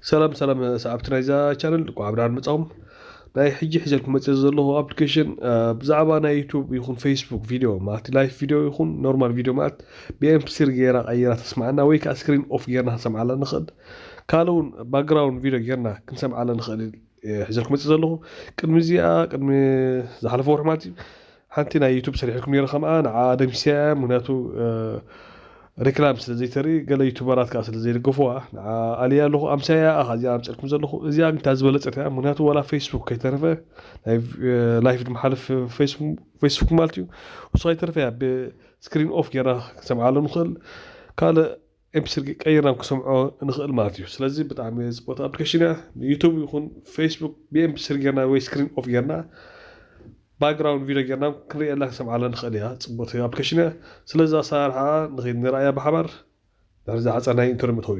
ሰላም ሰላም ሰዓብቲ ናይዛ ቻነል እንቋዕ ብደሓን መጻኹም። ናይ ሕጂ ሒዘልኩም መጽየ ዘለኹ ኣፕሊኬሽን ብዛዕባ ናይ ዩቱብ ይኹን ፌስቡክ ቪድዮ ማለት ላይፍ ቪድዮ ይኹን ኖርማል ቪድዮ ማለት ብኤምፕስሪ ገይራ ቀይራ ተስምዓና ወይ ከዓ ስክሪን ኦፍ ገይርና ክንሰምዓላ ንኽእል ካልእ እውን ባክግራውንድ ቪድዮ ገይርና ክንሰምዓላ ንኽእል ሒዘልኩም መጽየ ዘለኹ ቅድሚ እዚኣ ቅድሚ ዝሓለፈ ወርሒ ማለት እዩ ሓንቲ ናይ ዩቱብ ሰሪሐልኩም ኔረ ከምኣ ንዓኣ ደምሲሰያ እያ ምክንያቱ ሪክላም ስለ ዘይተርኢ ገለ ዩቱበራት ከኣ ስለ ዘይድገፍዋ ንዓኣ ኣልያ ኣለኩ ኣምሳያ ኣኻ እዚኣ ኣምጺኣልኩም ዘለኩ እዚኣ ግን እታ ዝበለጸት እያ ምክንያቱ ዋላ ፈይስቡክ ከይተረፈ ናይ ላይፍ ድመሓልፍ ፈይስቡክ ማለት እዩ ንሱ ከይተረፈ እያ ብ ስክሪን ኦፍ ጌርና ክንሰምዓሉ ንክእል ካልእ ኤምፒ ስልኪ ቀይርና ክንሰምዖ ንኽእል ማለት እዩ ስለዚ ብጣዕሚ ጽብቕቲ ኣፕሊኬሽን እያ ንዩቱብ ይኹን ፌስቡክ ብኤምፒ ስሪ ጌርና ወይ ስክሪን ኦፍ ጌርና ባክግራውንድ ቪድዮ ጌርና ክንርእየላ ክንሰምዓላ ንኽእል እያ ጽብቕቲ ኣፕሊኬሽን እያ ስለዚ ኣሰራርሓኣ ንኺድ ንርኣያ ብሓባር ድሕሪ ዝሓጸር ናይ ኢንተርቪው መእተዊ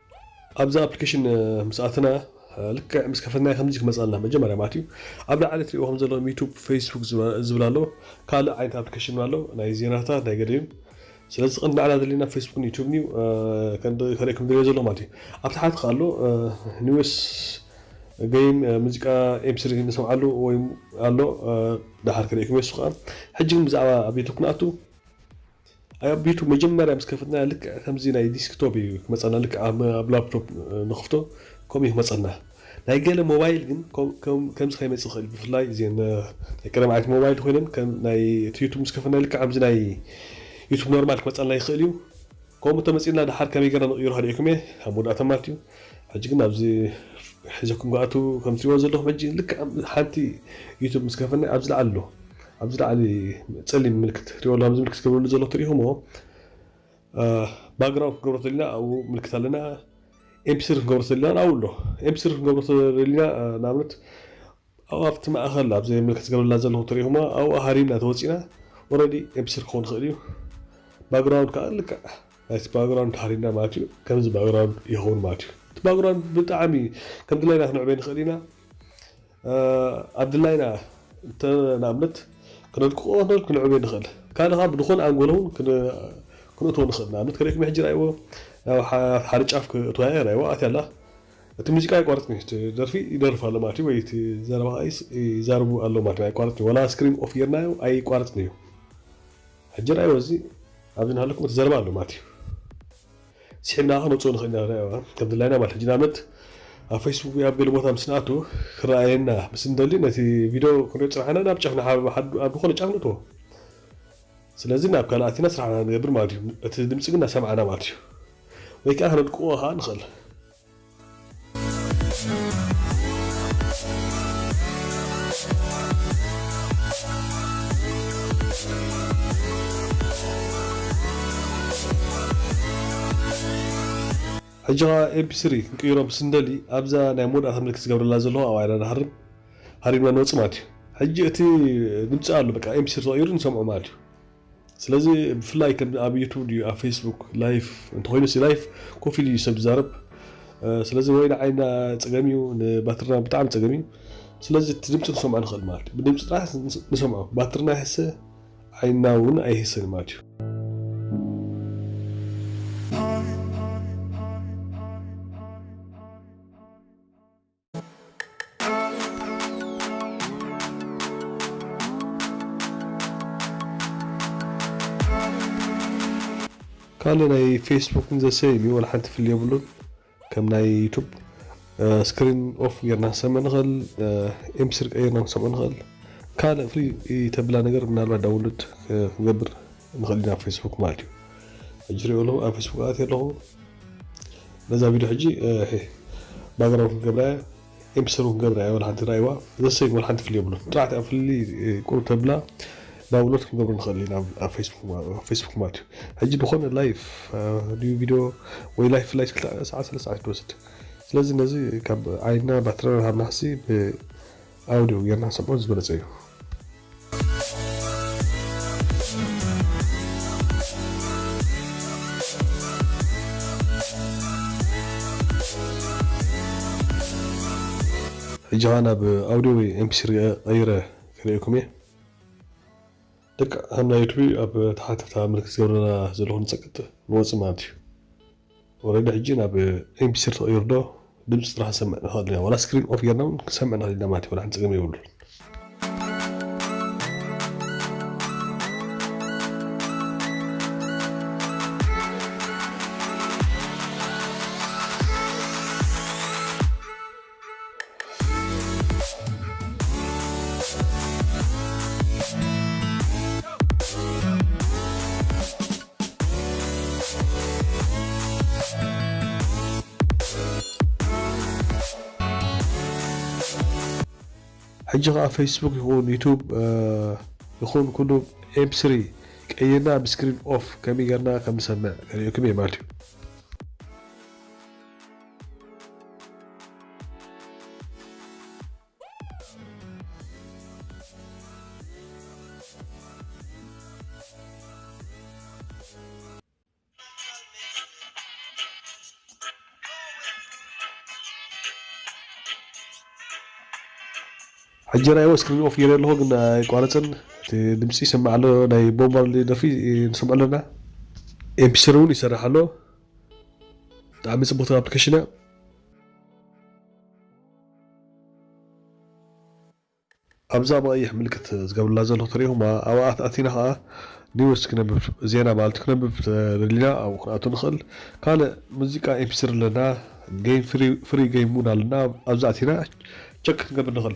ኣብዛ ኣፕሊኬሽን ምስ ኣተና ልክዕ ምስ ከፈትናያ ከምዚ ክመጻልና መጀመርያ ማለት እዩ ኣብ ላዕሊ ትሪእዎ ከም ዘለኹም ዩቱብ ፈይስቡክ ዝብል ኣሎ ካልእ ዓይነት ኣፕሊኬሽን እውን ኣሎ ናይ ዜናታት ናይ ገለዩ ስለዚ ቀንዲ ንዓና ዘድልየና ፈይስቡክን ዩቱብን እዩ ከርእየኩም ዝደልዮ ዘሎ ማለት እዩ ኣብ ታሕቲ ከዓ ኣሎ ኒውስ ገይም ሙዚቃ ኤምስሪ ንሰምዓሉ ወይ ኣሎ ድሓር ክርእኩም የሱ ከዓ ሕጂ ግን ብዛዕባ ኣብ ዩቱብ ክንኣቱ ኣብ ዩቱብ መጀመርያ ምስ ከፈትናያ ልክዕ ከምዚ ናይ ዲስክቶፕ ኢዩ ክመጸና ልክዕ ኣብ ላፕቶፕ ንክፍቶ ከምኡ ኢዩ ክመጸና ናይ ገለ ሞባይል ግን ከምዚ ከይመጽእ ይክእል ብፍላይ እዚኤን ናይ ቀደም ዓይነት ሞባይል ኮይነን ከም ናይ እቲ ዩቱብ ምስ ከፈትናዮ ልክዕ ከምዚ ናይ ዩቱብ ኖርማል ክመጸና ይክእል ኢዩ ከምኡ እንተመጺኡልና ደሓር ከመይ ገርና ንቅይሮ ከድዒኩም ኢየ ኣብ መወዳእታ ማለት ኢዩ ሕጂ ግን ኣብዚ ሒዘኩም ክኣቱ ከም ትሪእዎ ዘለኩም ሕጂ ልክዕ ሓንቲ ዩቱብ ምስ ከፈና ኣብዚ ላዕሊ ኣሎ ኣብዚ ላዕሊ ጸሊም ምልክት ትሪእዎ ኣሎ ኣብዚ ምልክት ክገብረሉ ዘሎ ትሪኢኹምዎ ባግራውንድ ክንገብሮ ተሊና ኣብኡ ምልክት ኣለና ኤምፒስሪ ክንገብሮ ተሊና ኣብኡ ኣሎ ኤምፒስሪ ክንገብሮ ተሊና ንኣብነት ኣብኡ ኣብቲ ማእኸል ኣብዚ እኔ ምልክት ዝገበረላ ዘለኹ ትሪእኹማ ኣብኡ ሃሪምና ተወፂእና ኦረዲ ኤምቢስሪ ክኸውን ይኽእል እዩ ባግራውንድ ከዓ ልክዕ ናይቲ ባግራውንድ ሃሪምና ማለት እዩ ከምዚ ባግራውንድ ይኸውን ማለት እዩ እቲ ባግራውንድ ብጣዕሚ ከም ድላይና ክንዕበይ ንኽእል ኢና ኣብ ድላይና እንተ ንኣብነት ክነድቅቆ ንኽእል ክንዕበይ ንኽእል ካልእ ከዓ ብዝኾነ ኣንጎሎ እውን ክንእትዎ ንኽእል ንኣብነት ከሪእኩም ሕጂ ርኣይዎ ናብ ሓደ ጫፍ ክእትዋ እየ ርኣይዋ ኣትያ ኣላ እቲ ሙዚቃ ኣይቋረጽን እዩ እቲ ደርፊ ይደርፍ ኣሎ ማለት እዩ ወይ እቲ ዘረባ ከኣ ይዛረቡ ኣለዉ ማለት እዩ ኣይቋረጽን እዩ ዋላ ስክሪን ኦፍ ጌርናዮ ኣይቋረጽን እዩ ሕጂ ርኣይዎ እዚ ኣብዚ እናሃለኩም እቲ ዘረባ ኣሎ ማለት እዩ ስሒብና ከኣ ክንወጽኦ ንኽእል ኢና ርኣይዋ ከም ድላይና ማለት ሕጂ ንኣብነት ኣብ ፈይስቡክ ወይ ኣብ ገለ ቦታ ምስ ንኣቱ ክረኣየና ምስ እንደሊ ነቲ ቪድዮ ክንሪኦ ዝጸናሕና ናብ ጫፍ ኣብ ዝኾነ ጫፍ ንእትዎ ስለዚ ናብ ካልእ ኣቲና ስራሕና ንገብር ማለት እዩ እቲ ድምጺ ግን እናሰማዕና ማለት እዩ ወይ ከኣ ከነድቅቖ ከኣ ንኽእል። ሕጂ ከኣ ኤምፒ ስሪ ክንቅይሮ ምስ እንደሊ ኣብዛ ናይ መወዳእታ ምልክት ዝገብረላ ዘለኹ ኣብኣ ኢና ንሃርም ሃሪምና ንወጽእ ማለት እዩ። ሕጂ እቲ ድምጺ ኣሎ በቃ ኤምፒ ስሪ ተቐይሩ ንሰምዖ ማለት እዩ። ስለዚ ብፍላይ ከም ኣብ ዩቱብ ድዩ ኣብ ፌስቡክ ላይፍ እንተኾይኑሲ ላይፍ ኮፍ ኢሉ እዩ ሰብ ዝዛረብ ስለዚ ወይ ንዓይና ጸገም እዩ ንባትርና ብጣዕሚ ጸገም እዩ ስለዚ እቲ ድምጺ ክንሰምዖ ንኽእል ማለት እዩ ብድምጺ ጥራሕ ንሰምዖ ባትርና ይሕሰ ዓይንና እውን ኣይህሰን እዩ ማለት እዩ ካልእ ናይ ፌስቡክ ዘ ሰይም እዩ ወላሓንቲ ፍሊ የብሉን ከም ናይ ዩቱብ ስክሪን ኦፍ ጌርና ክንሰምዕ ንኽእል ኤምፒስሪ ቀይርና ክንሰምዑ ንኽእል ካልእ ፍሊ ተብላ ነገር ምናልባት ዳውንሎድ ክንገብር ንኽእል ኢና ፌስቡክ ማለት እዩ ሕጂ ሪኦ ኣለኹ ኣብ ፌስቡክ ኣትየ ኣለኹ ነዛ ቪድዮ ሕጂ ባግራውንድ ክንገብራ እያ ኤምፕሰር እውን ክንገብራ እያ ወላ ሓንቲ ራእይዋ ዘሰይን ወላ ሓንቲ ፍሊ የብሉን ጥራሕቲ ኣብ ፍሊ ቁርብ ተብላ ዳውንሎድ ክንገብሮ ንኽእል ኢና ኣብ ፌስቡክ ማለት እዩ ሕጂ ዝኾነ ላይፍ ድዩ ቪድዮ ወይ ላይፍ ላይ ክልተ ሰዓት ሰለስተ ሰዓት ትወስድ ስለዚ ነዚ ካብ ዓይንና ባትራና ሃብናሲ ኣውድኡ ጌርና ክንሰምዖ ዝበለጸ እዩ። ሕጂ ከኣ ናብ ኣውድዮ ወይ ኤምፒስሪ ቀይረ ክርእየኩም እየ። ደቂ ኣንዳ ዩቱቢ ኣብ ታሕቲ ኣብታ ምልክት ዝገብረላ ዘለኹ ንጸቅጥ ንወጽእ ማለት እዩ። ወረደ ሕጂ ናብ ኤምፒስሪ ተቀይሩ ዶ ድምጺ ጥራሕ ክንሰምዕ ንክእል ኢና ዋላ ስክሪን ኦፍ ጌርና ውን ክንሰምዕ ንክእል ኢና ማለት እዩ ዋላ ሓንቲ ጸገም የብሉን። ሕጂ ከኣ ፈይስቡክ ይኩን ዩቱብ ይኩን ኩሉ ኤም ስሪ ቀይርና ብ ስክሪን ኦፍ ከመይ ገርና ከም ንሰምዕ ከርእየኩም እየ ማለት እዩ። ሕጂ ራይዎ ስክሪን ኦፍ ጌሬ ኣለኩ ግን ኣይቋረጽን እቲ ድምጺ ይስማዕ ኣሎ ናይ ቦብ ማርሊ ደርፊ ንሰምዖ ኣለና ኤምፒስሪ ውን ይሰርሕ ኣሎ ብጣዕሚ ጽቡቕቲ ኣፕሊኬሽን እያ። ኣብዛ ብቐይሕ ምልክት ዝገብርላ ዘሎ ትርእኹማ ኣብኣ ኣቲና ከኣ ኒውስ ክነብብ ዜና ማለት ክነብብ ተደሊና ኣብኡ ክንኣቱ ንኽእል ካልእ ሙዚቃ ኤምፒስሪ ኣለና ገይም ፍሪ ገይም እውን ኣለና ኣብዚ ኣቲና ቸክ ክንገብር ንኽእል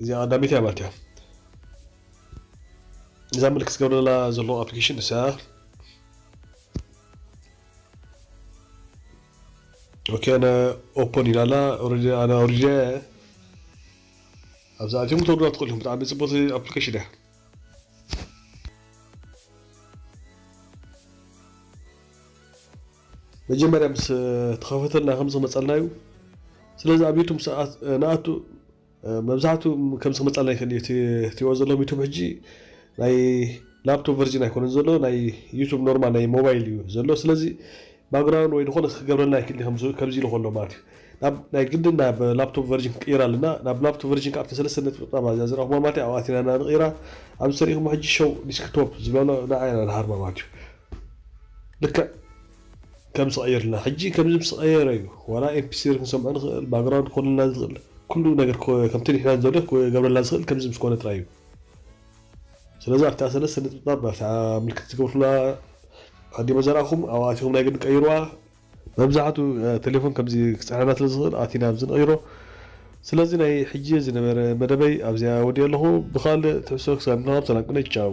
እዚኣ ቀዳመይቲ ኣባልት እያ እዛ ምልክት ዝገብረላ ዘሎ ኣፕሊኬሽን ንሳ ኦኬ ኣነ ኦፖን ኢላ ኣላ ኦልሬዲ ኣነ ኣውሪደ ኣብዛ ኣትዮም ክትወርዱላ ትኽእሉ ኢኹም ብጣዕሚ ፅቡቕቲ ኣፕሊኬሽን እያ መጀመርያ ምስ ተኸፈተልና ከምዚ ክመጸልና እዩ ስለዚ ኣብ ዩቱብ ምስ ንኣቱ መብዛሕቱ ከምዚ ክመጸልና ይክእል እዩ እቲ ትሪእዎ ዘለኹም ዩቱብ ሕጂ ናይ ላፕቶፕ ቨርጅን ኣይኮነን ዘሎ ናይ ዩቱብ ኖርማል ናይ ሞባይል እዩ ዘሎ ስለዚ ባግራውንድ ወይ ዝኾነ ክገብረልና ይክእል እዩ ከምዚ ኢሉ ከሎ ማለት እዩ ናብ ናይ ግድን ናብ ላፕቶፕ ቨርጅን ክቅይር ኣለና ናብ ላፕቶፕ ቨርጅን ካብ ሰለስተ ነጥብጣብ እዚኣ ዝረኽብዋ ማለት እዩ ኣብኣ ኣቲና ኢና ንቅይራ ኣብዚ ተሪእኹሞ ሕጂ ሾው ዲስክቶፕ ዝብላ ኣሎ ንዓ ኢና ንሃርማ ማለት እዩ ልክዕ ከም ስቀይርልና ሕጂ ከምዚ ምስ ቀየረ እዩ ዋላ ኤምፒስሪ ክንሰምዖ ንክእል ባግራውንድ ክኮነልና ዝክእል ኩሉ ነገር ከምቲ ንሕና ንደልዮ ክገብረልና ዝክእል ከምዚ ምስ ኮነ ጥራይ እዩ ስለዚ ኣብታ ሰለስተ ነጥብጣብ ኣብታ ምልክት ዝገብርኩላ ኣዲሞ ዘርኣኩም ኣብኣ ኣቲኩም ናይ ግድን ቀይርዋ መብዛሕቱ ቴሌፎን ከምዚ ክጽዕነና ስለ ዝክእል ኣቲና ኣብዚ ንቀይሮ ስለዚ ናይ ሕጂ ዝነበረ መደበይ ኣብዚኣ ወዲኤ ኣለኩ ብካልእ ትሕዝቶ ክሳብ ንራከብ ሰላም ቅነ ቻው።